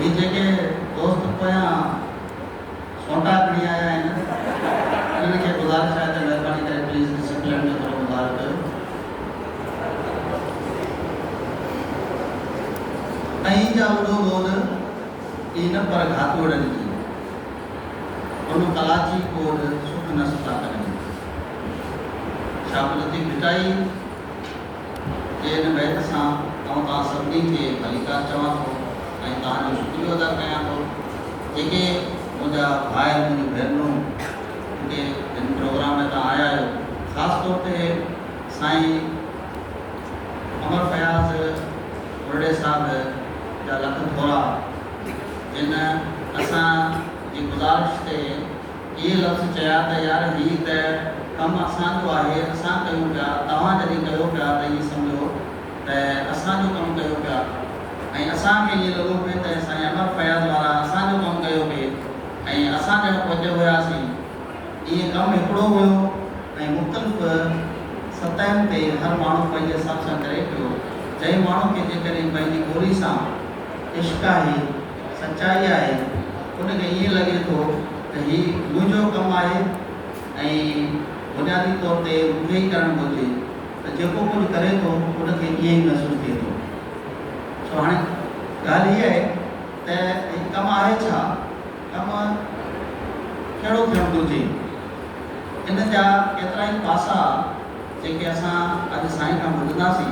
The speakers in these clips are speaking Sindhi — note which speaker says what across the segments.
Speaker 1: هي جيڪي دوست پويان سونٽا کڻي آيا آهن انهن کي گذارش آهي ته مهرباني ڪري پليز ڊسپلين جو ٿورو مظاهرو ڪيو ۽ هي جا اڏو ٻوڏ ئي نه پر گهاتوڙن جي ان ڪلاچي ڪوڏ سک نه ستا ڪرين. شاهه قدرتي ڀٽائي. جي هن بيت سان آئون توهان سڀني کي ڀليڪار چوان ٿو ۽ توهان جو شڪريو ادا ڪيان ٿو جيڪي منهنجا ڀائر منهنجون ڀينرون جيڪي هن پروگرام ۾ تان آيا آهيو خاص طور تي سائين امر فياض ٻرڙي صاحب جا لک ٿورا جن اسان جي گذارش تي اهي لفظ چيا ته يار هي ته ڪم اسان جو آهي اسان ڪيون پيا توهان جڏهن ڪيو پيا ته ائين سمجهو ته اسان جو ڪم ڪيو پيا ۽ اسان کي ائين لڳو پئي ته سائين امر فياض وارا اسان جو ڪم ڪيو پئي ۽ اسان ڄڻ پهچ هياسين ائين ڪم هڪڙو هيو ۽ مختلف سطحن تي هر ماڻهو پنهنجي حساب سان ڪري پيو جنهن ماڻهو کي جيڪڏهن پنهنجي ٻولي سان عشق آهي. سچائي آهي ان کي ائين لڳي ٿو ته هي منهنجو ڪم آهي ۽ بنيادي طور تي مون کي ئي ڪرڻ گهرجي ته جيڪو ڪجهه ڪري ٿو ان کي ائين ئي محسوس ٿئي ٿو سو هاڻي ڳالهه هي آهي ته هي ڪم آهي ڇا؟ ڪم ڪهڙو ٿيڻ گهرجي؟ ان جا ڪيترائي پاسا جيڪي اسان اڄ سائين کان ٻڌنداسين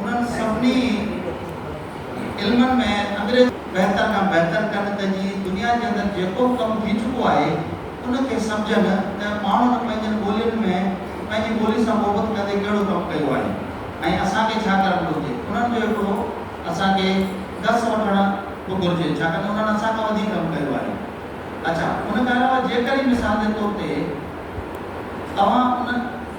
Speaker 1: انهن سڀني علمن ۾ انگريزي بهتر کان بهتر ڪن ته جيئن دنيا جي اندر جيڪو به ڪم ٿي چڪو آهي ان کي سمجهن ته ماڻهن پنهنجن ٻولين ۾ پنهنجي ٻولي سان محبت ڪندي ڪهڙو ڪم ڪيو آهي ۽ اسان کي ڇا ڪرڻ گهرجي انهن جو هڪڙو اسان کي درس وٺڻ به گهرجي ڇاڪاڻ ته انهن اسان کان وڌيڪ ڪم ڪيو آهي اڇا ان کان علاوه جيڪڏهن مثال جي طور تي توهان ان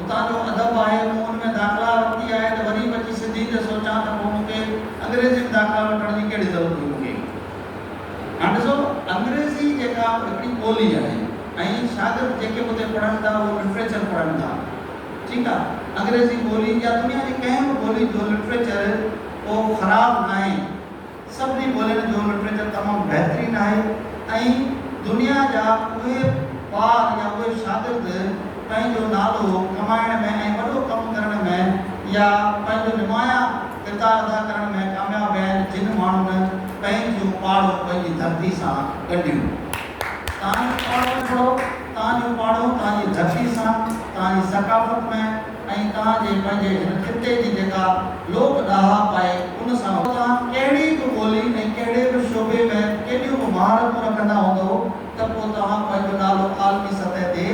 Speaker 1: اتان جو ادب آهي، مون ان ۾ داخلا ورتي آهي ته وري به اچي سنڌي تي سوچان ته پوء مون کي انگريزي ۾ داخلا وٺڻ جي ڪهڙي ضرورت هئي مون کي. هاڻ ڏسو انگريزي جيڪا هڪڙي ٻولي آهي ۽ شاگرد جيڪي به اتي پڙهن ٿا اهو لٽريچر پڙهن ٿا ٺيڪ آهي انگريزي ٻولي يا دنيا جي ڪنهن به ٻولي جو لٽريچر ڪو خراب ناهي، سڀني ٻولين جو لٽريچر تمام بهترين آهي ۽ دنيا جا اهي ٻار يا اهي شاگرد پنهنجو نالو ڪمائڻ ۾ ۽ وڏو ڪم ڪرڻ ۾ يا پنهنجو نمايان ڪردار ادا ڪرڻ ۾ ڪامياب ويا آهن جن ماڻهن پنهنجيون پاڙون پنهنجي ڌرتي سان ڳنڍيون. تهان جو پاڙو ڪهڙو؟ تهان جو پاڙو تهان جي ڌرتي سان، تهان جي ثقافت ۾، ۽ توهان جي پنهنجي هن خطي جي جيڪا لوڪ ڏاهپ آهي ان سان پوء توهان ڪهڙي به ٻولي ۽ ڪهڙي به شعبي ۾ ڪيڏيون به مهارتون رکندا هوندؤ ته پوء توهان پنهنجو نالو عالمي سطح تي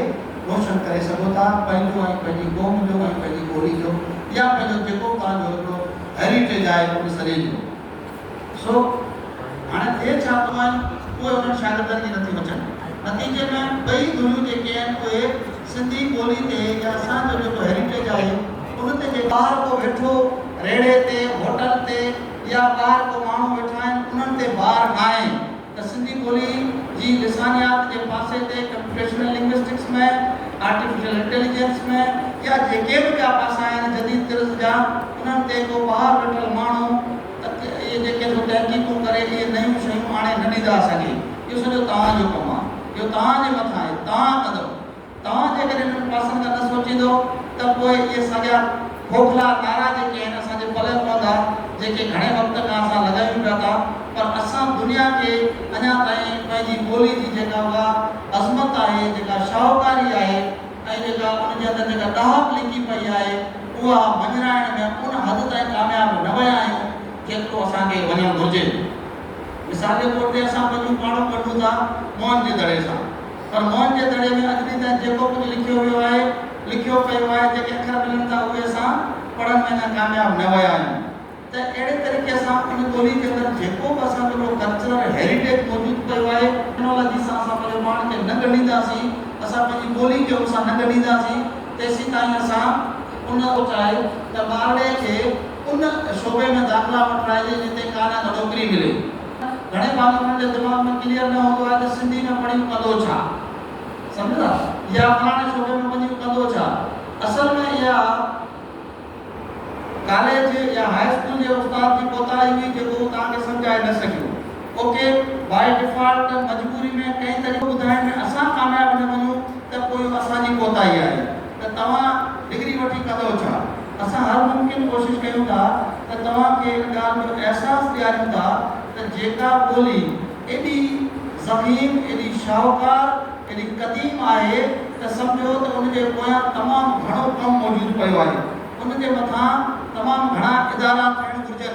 Speaker 1: روشن ڪري سگهو ٿا پنهنجو ۽ پنهنجي قوم جو ۽ پنهنجي ٻولي جو يا پنهنجو جيڪو به توهان جو هڪڙو هيريٽيج آهي ان سڄي جو. سو هاڻي ٿئي ڇا ته اهي اهي انهن شاگردن جي نٿي مچن. نتيجي ۾ ٻئي ڌريون جيڪي آهن اهي سنڌي ٻولي تي يا اسان جو جيڪو هيريٽيج آهي ان تي جيڪي. ٻاهر ڪو ويٺو ريڙهي تي، هوٽل تي يا ٻاهر ڪو ماڻهو ويٺا آهن انهن تي بار ناهي. ته سنڌي ٻولي جي لسانيات جي پاسي تي ڪمپيوٽيشنل لنگوسٽڪس ۾، آرٽيفيشل انٽيليجنس ۾، يا جيڪي به ٻيا پاسا آهن جديد طرز جا، انهن تي ڪو ٻاهر ويٺل ماڻهو، اهي جيڪي سو تحقيقون ڪري اهي نيون شيون آڻي نه ڏيندا اسان کي. اهو سڄو توهان جو ڪم آهي. اهو توهان جي مٿان آهي. توهان ڪندؤ. توهان جيڪڏهن انهن پاسن ڏانهن نه سوچيندؤ ته پوء اهي ساڳيا کوکلا نعرا جيڪي آهن اسان جي پلئه پوندا جيڪي گهڻي وقت کان اسان لڳايون پيا ٿا پر اسان دنيا کي اڃا تائين پنهنجي ٻولي جي جيڪا اها عظمت آهي جيڪا شاهوڪاري آهي ۽ جيڪا ان جي اندر جيڪا ڏاهپ لڪي پئي آهي اها مڃرائڻ ۾ ان حد تائين ڪامياب نه ويا آهيون جيترو اسان کي وڃڻ گهرجي مثال جي طور تي اسان پنهنجون پاڙون ڳنڍون ٿا موهن جي دڙي سان. پر موهن جي دڙي ۾ اڄ ڏينهن تائين جيڪو ڪجهه لکيو ويو آهي، لکيو پيو آهي، جيڪي اکر ملن ٿا اهي اسان پڙهڻ ۾ اڃا ڪامياب نه ويا آهيون ته اهڙي طريقي سان ان ٻولي جي اندر جيڪو به اسان جو هڪڙو ڪلچرل هيريٽيج موجود پيو آهي، ٽيڪنالاجي سان اسان پنهنجو پاڻ کي نه ڳنڍينداسين، اسان پنهنجي ٻولي کي ان سان نه ڳنڍينداسين، تيسيتائين اسان ان. سوچ آهي ته ٻارڙي کي ان شعبي ۾ داخلا وٺرائجي جتي ڪا نه ڪا نوڪري ملي. گهڻي ڀاڱي انهن جي دماغ ۾ ڪليئر نه هوندو آهي ته سنڌي ۾ پڙهيون ڪندو ڇا؟ سمجهو ٿا؟ يا فلاڻي صوبي ۾ وڃي ڪندو ڇا؟ اصل ۾ اها ڪاليج يا هاء اسڪول جي استاد جي ڪوتاهي هئي جيڪو هو توهان کي سمجهائي نه سگهيو. اوڪي بائي ڊفالٽ مجبوري ۾ ڪنهن طريقي ٻڌائڻ ۾ اسان ڪامياب نه وڃون ته پوء اهو اسان جي ڪوتاهي آهي ته توهان ڊگري وٺي ڪندو ڇا؟ اسان هر ممڪن ڪوشش ڪيون ٿا ته توهان کي ان ڳالهه جو احساس ڏياريون ٿا ته جيڪا ٻولي ايڏي ضخيم، ايڏي شاهوڪار، ايڏي قديم آهي ته سمجهو ته ان جي پويان تمام گهڻو ڪم موجود پيو آهي. ان جي مٿان تمام گهڻا ادارا ٺهڻ گهرجن.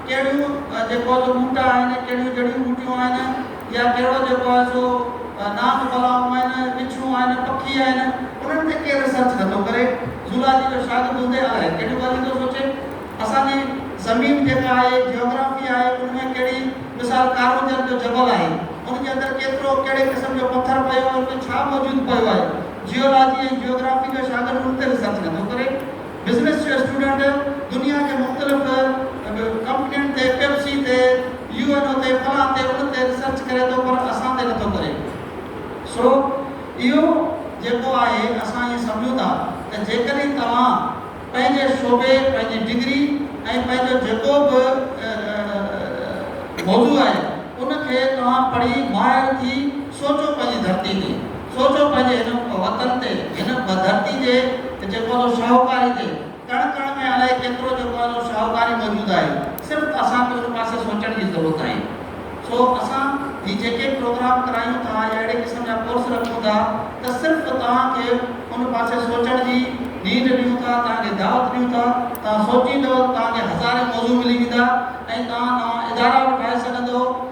Speaker 1: ڪهڙيون جيڪو جو ٻوٽا آهن، ڪهڙيون جڙيون ٻوٽيون آهن يا ڪهڙو جيڪو آهي سو نانگ بلائون آهن، وڇون آهن، پکي آهن، انهن تي ڪير ريسرچ نٿو ڪري. زولاجي جو شاگرد هوندي الائي ڪهڙيون ڳالهيون ٿو سوچي. اسان جي زمين جيڪا آهي، جيوگرافي آهي، ان ۾ ڪهڙي مثال ڪارونجهر جو جبل آهي، ان جي اندر ڪيترو ڪهڙي قسم جو پٿر پيو آهي، ان ۾ ڇا موجود پيو آهي. جيولاجي ۽ جيوگرافي جو شاگرد ان تي ريسرچ نٿو ڪري. بزنس جو اسٽوڊنٽ دنيا جي مختلف ڪمپنين تي پيپسي تي يو اين او تي فلان تي ان تي ريسرچ ڪري ٿو پر اسان تي نٿو ڪري سو اهو جيڪو آهي اسان ائين سمجهون ٿا ته جيڪڏهن توهان پنهنجي شعبي پنهنجي ڊگري ۽ پنهنجو جيڪو به موضوع آهي ان کي توهان پڙهي ماهر ٿي سوچو پنهنجي ڌرتي تي سوچو پنهنجي هن وطن تي، هن ڌرتي جي ته جيڪو اسان جو شاهوڪاري تي ڪڻ ڪڻ ۾ الائي ڪيترو جيڪو اسان جو شاهوڪاري موجود آهي، صرف اسان کي ان پاسي سوچڻ جي ضرورت آهي. سو اسان هي جيڪي پروگرام ڪرايون ٿا يا اهڙي قسم جا ڪورس رکون ٿا ته صرف توهان کي ان پاسي سوچڻ جي نينڍ ڏيون ٿا، توهان کي دعوت ڏيون ٿا، توهان سوچيندؤ ته توهان کي هزارين موضوع ملي ويندا ۽ توهان نوان ادارا به ٺاهي سگهندؤ.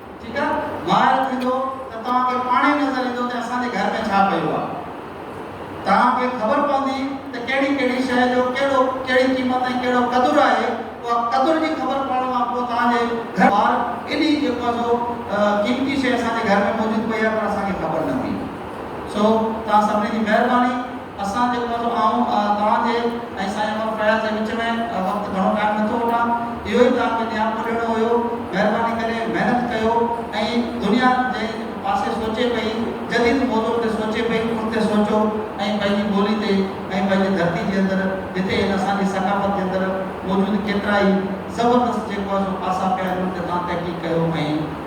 Speaker 1: ٺيڪ آ ماهر ٿيندو ته توهان کي پاڻ ئي نظر ايندو ته اسان جي گهر ۾ ڇا پيو آ توهان کي خبر پوندي ته ڪهڙي ڪهڙي شئي جو ڪهڙو ڪهڙي قيمت ۽ ڪهڙو قدر آهي اها قدر جي خبر پوڻ کان پوء توهان جي گهر ٻار ايڏي جيڪو آ سو قيمتي شئي اسان جي گهر ۾ موجود پئي آ پر اسان کي خبر نه هئي سو توهان سڀني جي مهرباني. اسان جي عمر جو آئون توهان جي ۽ سائين عمر فياض جي وچ ۾ وقت گهڻو ٽائيم نه ٿو وٺان، اهو ئي توهان کي نياپو ڏيڻو هيو، مهرباني ڪري محنت ڪيو ۽ دنيا جنهن پاسي سوچي پئي، جديد موضوعن تي سوچي پئي، ان تي سوچو ۽ پنهنجي ٻولي تي ۽ پنهنجي ڌرتي جي اندر جتي هن اسان جي ثقافت جي اندر موجود ڪيترائي زبردست جيڪو آهي سو پاسا پيا آهن ان تي توهان تحقيق ڪيو ۽